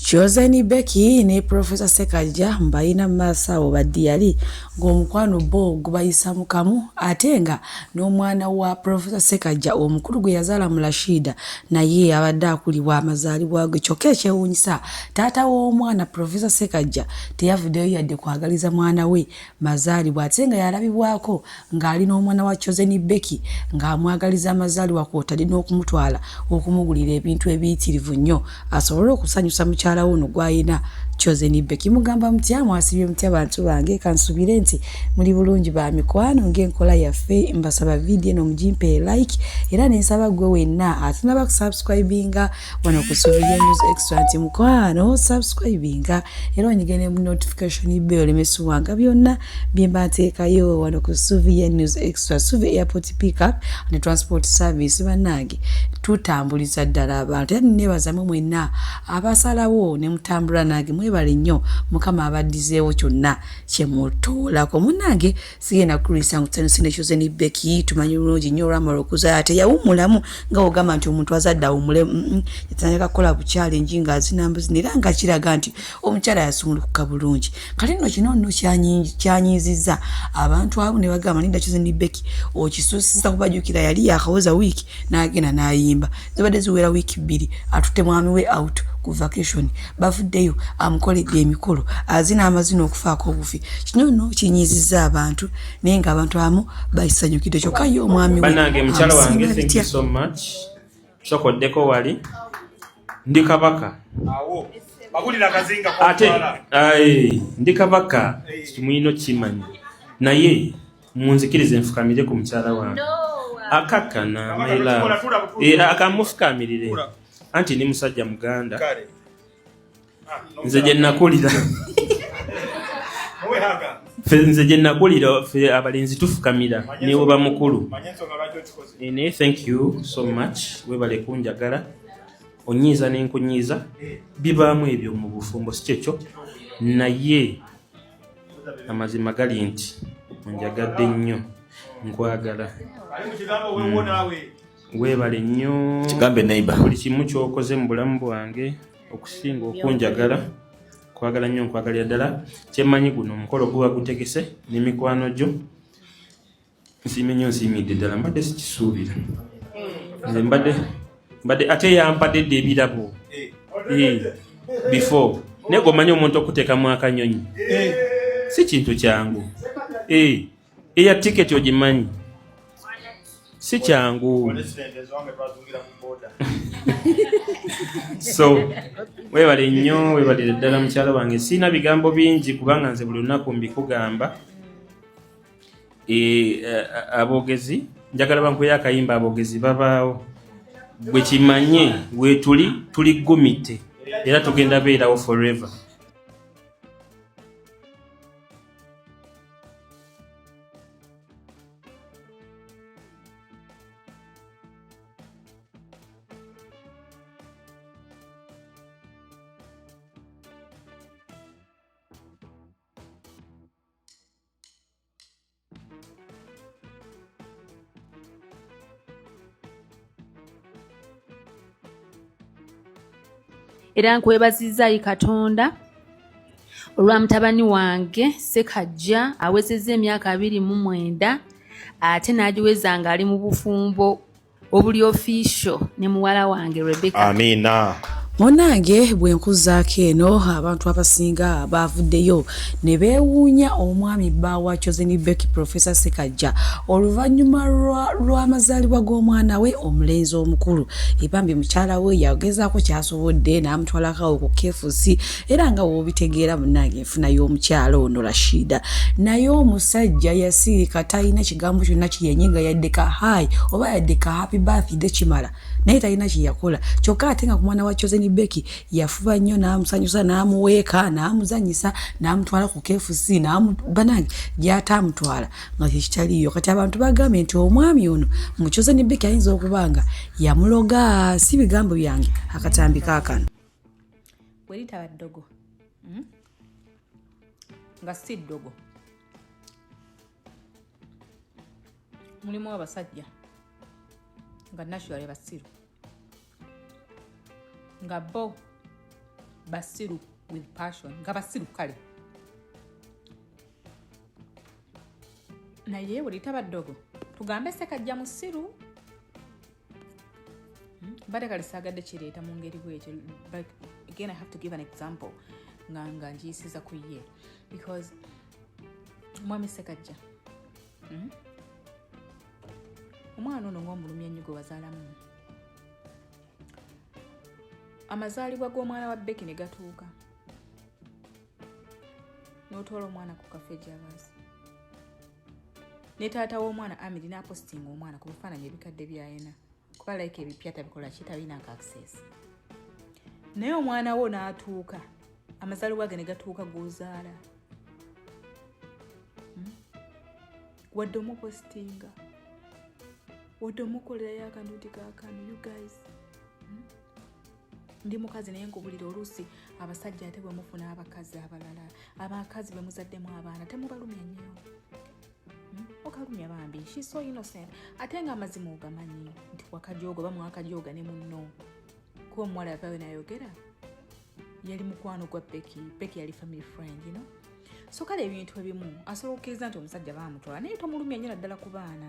Chosen Becky ne Professor Sekajja mbayina maaso awo badiyali ng'omukwano bo gubayisa mu kamu ate nga n'omwana wa Professor Sekajja omukulu gwe yazaala mu Rashida naye abadde akulibwa amazaalibwa ge kyokka ekyewuunyisa taata w'omwana Professor Sekajja teyavuddeyo yadde kwagaliza mwana we mazaalibwa ate nga yalabibwako ng'ali n'omwana wa choseni becky ng'amwagaliza amazaalibwa kwotadde n'okumutwala okumugulira ebintu ebiyitirivu nnyo asobole okusanyusa mukyala we ono gw'alina choseni becky mugamba mutya mwasibye mutya bantu bange kansubire nti muli bulungi ba mikwano ng'enkola yaffe mbasaba vidiyo eno mugimpe like era nensaba gwe wenna atunaba kusubscribinga wano ku Sovereign News Extra nti mukwano subscribinga era onyige ne notification bell olemesibwanga byonna bye mba nteekayo wano ku Sovereign News Extra Suvi Airport Pickup ne Transport Service bannange tutambuliza ddala abantu era nebazamu mwenna abasalawo ne mutambula nange mwebale nnyo mukama abaddizeewo kyonna kye mutuulako munnange sigenda kukulisa ngu tano sina kyoze ni beki tumanyi bulungi nyo ramara okuzala teyawumulamu nga ogamba nti omuntu azadde awumule mm, mm. yatandika kukola buchallenge nga azina mbuzi nera nga kiraga nti omukyala yasumulukuka bulungi kale nno kino nno kyanyiiziza abantu abo ne bagamba ninda kyoze ni beki okisusiza kubajukira yali yakawoza wiiki n'agenda n'ayimba zibadde ziwera wiiki bbiri atutte mwami we out ku vacation bavuddeyo amukoledde emikolo azina amazina okufaako obufi kino no kinyiizizza abantu naye nga abantu abamu bakisanyukidde kyokka ye omwami wesokoddeko wali ndi kabaka ate ndi kabaka kimuyina okimanyi naye munzikirize nfukamire ku mukyala wange akakkana maila eh, akamufukamirire anti ni musajja muganda ah, nze gye nakulira nze gye nakulira fe abalenzi tufukamira newe bamukulu eh, naye thank you so much webale kunjagala onyiiza nenkunyiiza bibaamu ebyo mu bufumbo si kyekyo naye amazima gali nti onjagadde nnyo nkwagala mm. weebale nnyo buli kimu kyokoze mu bulamu bwange okusinga okunjagala kwagala nnyo nkwagalira ddala kyemmanyi guno omukolo guba gutegese ne mikwano gyo nsiime nnyo nsiimidde ddala mbadde sikisuubira nze mbadde mbadde ate yampadde dda ebirabo before naye gomanya omuntu okuteekamu akanyonyi si kintu kyangu eya tiketi ogimanyi si kyangu so webale nnyo webalire ddala mukyalo wange siina bigambo bingi kubanga nze buli lunaku mbikugamba Eh, eh, abogezi njagala bankuye akayimba abogezi babaawo bwe kimanye wetuli tuli gomite era tugenda beerawo forever era nkwebazizza yi katonda olwa mutabani wange sekajja awezezza emyaka abiri mu mwenda ate n'agiweza ng'ali mu bufumbo obuli official ne muwala wange Rebecca Amina munange bwe nkuzaako eno abantu abasinga baavuddeyo ne beewuunya omwami bba wa choseni beki profesa sekajja oluvannyuma lw'amazaalibwa g'omwana we omulenzi omukulu ebambi mukyala we yagezaako kyasobodde n'amutwalakawo ku kefusi era nga wobitegeera munange nfuna y'omukyala ono rashida naye omusajja yasiika talina kigambo kyonna kiyenye nga yadde ka hai oba yadde ka happy birthday kimala naye talina kyeyakola kyokka ate nga ku mwana wa choseni beki yafuba nnyo n'amusanyusa n'amuweeka n'amuzanyisa n'amutwala ku kfc banange gyata amutwala nga kyekitaliyo kati abantu bagambye nti omwami ono mu choseni beki ayinza okuba nga yamuloga si bigambo byange akatambi kaakano bwe litaba ddogo hmm? nga si ddogo mulimu abasajja nga naturally basiru nga bo basiru with passion nga basiru kale naye buli taba ddogo tugambe sekajja musiru hmm? mbadde kali saagadde kireeta mu ngeri bwekyo but again i have to give an example nga nga ngiyisiza ku ye because mwami sekajja hmm? omwana ono ngaomulumya nnyo gwe wazaalamu amazaalibwa g'omwana wa beki ne gatuuka n'otwala omwana ku kafe gyabasi ne taata w'omwana amiri n'apositinga omwana ku bifaananyi ebikadde byayina kuba like ebipya tabikola kitalinako access naye omwana wo n'atuuka amazaalibwa ge ne gatuuka g'ozaala hmm? wadde omupositinga wadde omukolerayo akantu nti kakano you guys ndi mukazi naye nkubulira oluusi abasajja ate bwemufuna abakazi abalala abakazi bwemuzaddemu abaana temubalumya nnyo hmm? okalumya bambi she so innocent ate nga amazima ogamanyi nti wakajooga oba mwakajooga ne munno kuba omuwala yavayo nayogera yali mukwano gwa peki peki yali family friend you know? so kale ebintu ebimu asobola okukkiriza nti omusajja bamutwala naye tomulumya nnyo naddala ku baana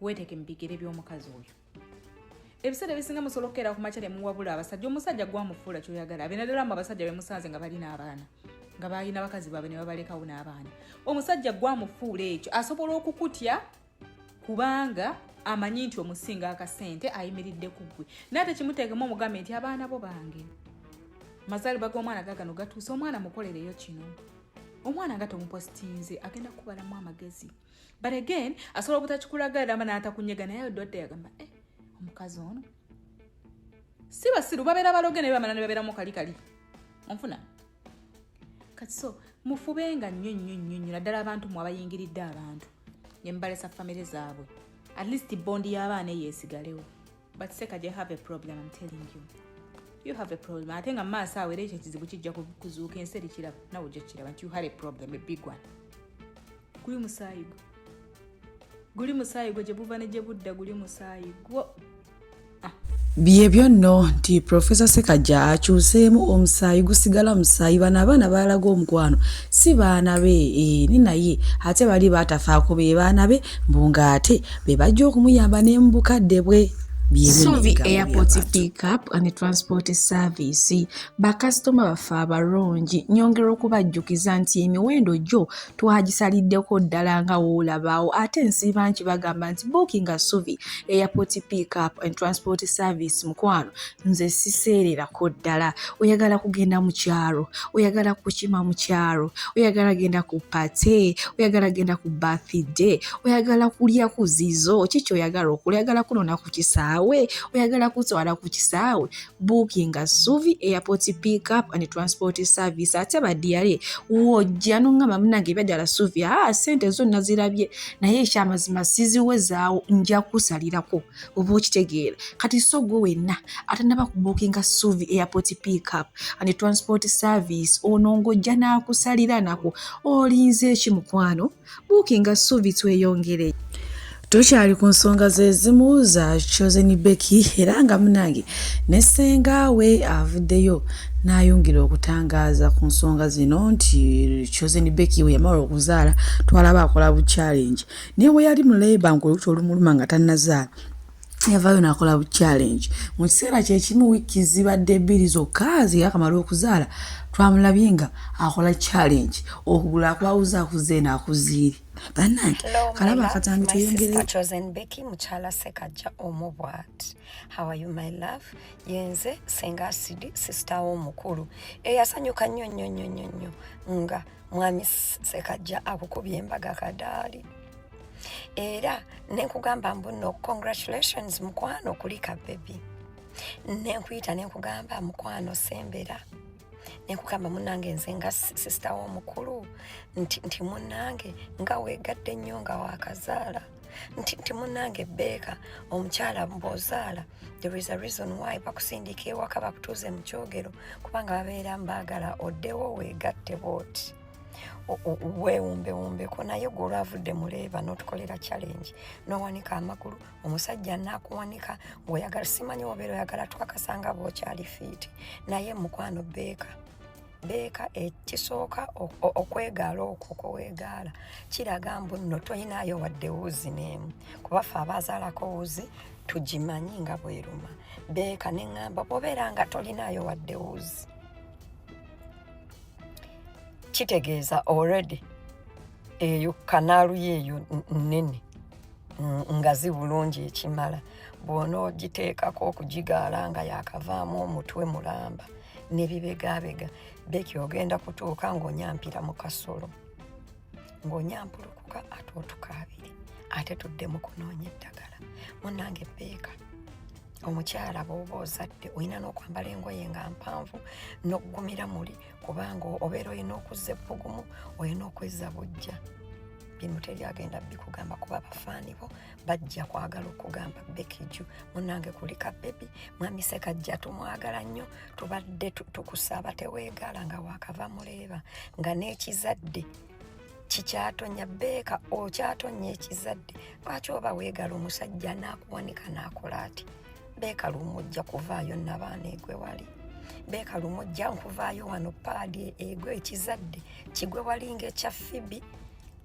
weeteke mu bigere by'omukazi oyo ebiseera ebisinga musobola okukeera ku makya ne muwabula abasajja omusajja gwamufuula kyoyagala abe naddala mu abasajja be musanze nga balina abaana nga balina bakazi baabwe ne babalekawo n'abaana omusajja gwamufuula ekyo asobola okukutya kubanga amanyi nti omusinga akasente ayimiridde ku ggwe naye tekimuteekemu omugambe nti abaana bo bange mazaalibwa g'omwana gagano gatuuse omwana mukolereyo kino omwana nga tomupositinze agenda kukubalamu amagezi but again asobola obutakikulaga erama natakunyega naye odwadde yagamba eh, omukazi ono si basiru babeera baloge naye bamala ne babeeramu kali kali onfuna kati so mufubenga nnyo nnyo nnyo nnyo naddala abantu mwe abayingiridde abantu ne mubalesa famire zaabwe at least bondi y'abaana eyo esigalewo but seka you have a problem i'm telling you you have a problem ate nga maaso awo era ekyo ekizibu kijja kuzuuka ensi erikiraba nawe ojja kukiraba nti you had a problem a big one guli musaayi gwo guli musaayi gwo gye buva ne gye budda guli musaayi gwo ah. byebyo nno nti profesa sekajja akyuseemu omusaayi gusigala musaayi bano abaana baalaga omukwano si baana be eh, ni naye ate bali batafaako be baana be mbu ng'ate be bajja okumuyamba ne mu bukadde bwe Suvi Airport Pickup and Transport Service bakasitoma baffe abalungi nyongera okubajjukiza nti emiwendo gyo twagisaliddeko ddala nga woolabaawo ate nsiiba nti bagamba nti bookinga Suvi Airport Pickup and Transport Service mukwano nze siseererako ddala oyagala kugenda mu kyalo oyagala kukima mu kyalo oyagala genda ku pate oyagala genda ku bathide oyagala kulya ku zizo kiki oyagala okula oyagala kunona ku kisaawe oyagala kutwala ku kisaawe bookinga suvi airport pick up and transport service ate badiyale wojja noŋŋamba munange ebyajala suvi aa ah, sente zonna zirabye naye ekyamazima siziwezaawo nja kusalirako oba okitegeera kati so gwe wenna atanaba kubukinga suvi airport pickup and transport service ono ng'ojja n'akusalira nako olinze eki mukwano bukinga suvi tweyongere tukyali ku nsonga zezimu za chosen becky era nga munange ne senga we avuddeyo n'ayongera okutangaaza ku nsonga zino nti chosen becky we yamala okuzaala twalaba akola bu challenge naye bwe yali mu labour ng'oluti olumuluma nga tannazaala yavaayo n'akola bu challenge mu kiseera kye kimu wiiki zibadde ebbiri zokka ze yakamala okuzaala twamulabye nga akola challenge okugula akwawuza akuze eno akuziiri bannange kalaba akatambi tweyongereyozenbeki mukyala sekajja omu bwat hawayu my love yenze senga asidi sisitawo omukulu eyasanyuka nnyo nnyo nnyo nnyo nnyo nga mwami sekajja akukubye embaga kadaali era nenkugamba mbuno congratulations mukwano kulika bebi nenkuyita nenkugamba mukwano sembera nekugamba munange nze nga sisita womukulu nti, nti munange nga wegadde nnyo nga wakazaala nti nti munange beeka omukyala bwozaala there is a reason why bakusindiika ewaka bakutuuze mu kyogero kubanga babeera mbaagala oddewo weegatte booti weewumbewumbeko naye gwe olwavudde mu leeba n'otukolera challenge n'owanika amagulu omusajja naakuwanika ng'oyagala simanyi obeera oyagala twakasanga bwokyali fiiti naye mukwano beeka beeka ekisooka okwegaala okwo kwewegaala kiraga mbu nno toyinaayo wadde wuzi n'emu kuba ffe abaazaalako wuzi tugimanyi nga bweruma beeka ne ŋŋamba bwobeera nga tolinaayo wadde wuzi kitegeeza already eyo kanaalu yeeyo nnene nga zi bulungi ekimala bw'onoogiteekako okugigaala nga yaakavaamu omutwe mulamba ne bibegabega beki ogenda kutuuka ng'onyampira mu kasolo ng'onyampulukuka ate otukaabire ate tudde mu kunoonya eddagala munange beeka omukyala bwoba ozadde olina n'okwambala engoye nga mpanvu n'okugumira muli kubanga obeera olina okuzza ebbugumu olina okwezza bujja bino teri agenda bikugamba kuba bafaani bo bajja kwagala okugamba bekiju munange kulika bebi mwami sekajja tumwagala nnyo tubadde tukusaba teweegaala nga wakava muleeba nga n'ekizadde kikyatonya beeka okyatonya ekizadde lwaki oba weegala omusajja naakuwanika naakola ati beeka lumu ojja kuvaayo nabaana egwe wali beeka lumu ojja nkuvaayo wano paadi egwe ekizadde kigwe wali ngaekya fibi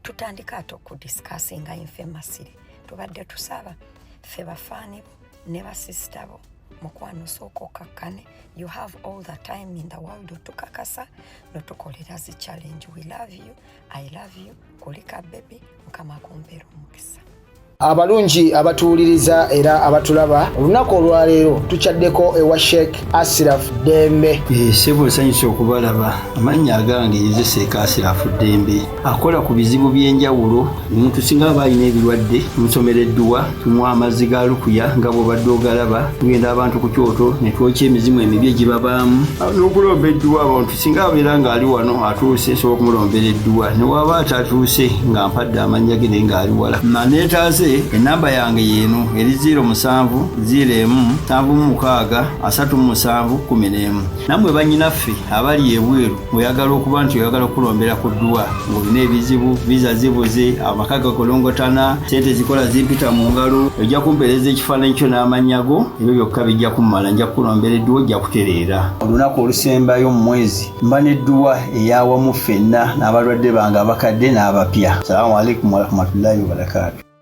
tutandika ate okudisikasinga infemasire tubadde tusaba ffe bafaani bo ne basisita bo mukwano sooka okakkane you have all the time in the world otukakasa notukolera zi challenge we love you i love you kulika bebi mukama kumpera omukisa abalungi abatuwuliriza era abatulaba olunaku olwaleero tukyaddeko ewa sheik asiraf dembe eh, sebo nsanyusa okubalaba amannya agange nze sheik asiraf dembe akola ku bizibu by'enjawulo omuntu singa aba alina ebirwadde nsomera edduwa tunywa amazzi ga lukuya nga bwobadde ogalaba tugenda abantu ku kyoto ne twokya emizimu emibi egibabaamu n'okulomba edduwa abantu singa abeera ng'ali wano atuuse nsobola okumulombera edduwa ne waaba atatuuse nga mpadde amannya ge naye ng'ali wala maneetaaze ennamba yange yeeno eri 0 musanvu 0 emu nsanvu mu mukaaga asatu mu musanvu kkumi n'emu nammwe bannyinaffe abali ebweru oyagala okuba nti oyagala okukulombera ku dduwa ng'olina ebizibu viza zibuze amaka gakolongotana sente zikola zimpita mu ngalo ojja kumpeereza ekifaananyi kyo n'amannya go ebyo byokka bijja kummala nja kukulombera edduwa ojja kutereera olunaku olusembayo mu mwezi mba n'edduwa eyawamu ffenna n'abalwadde bange abakadde n'abapya salamu alaikum warahmatullahi wabarakatu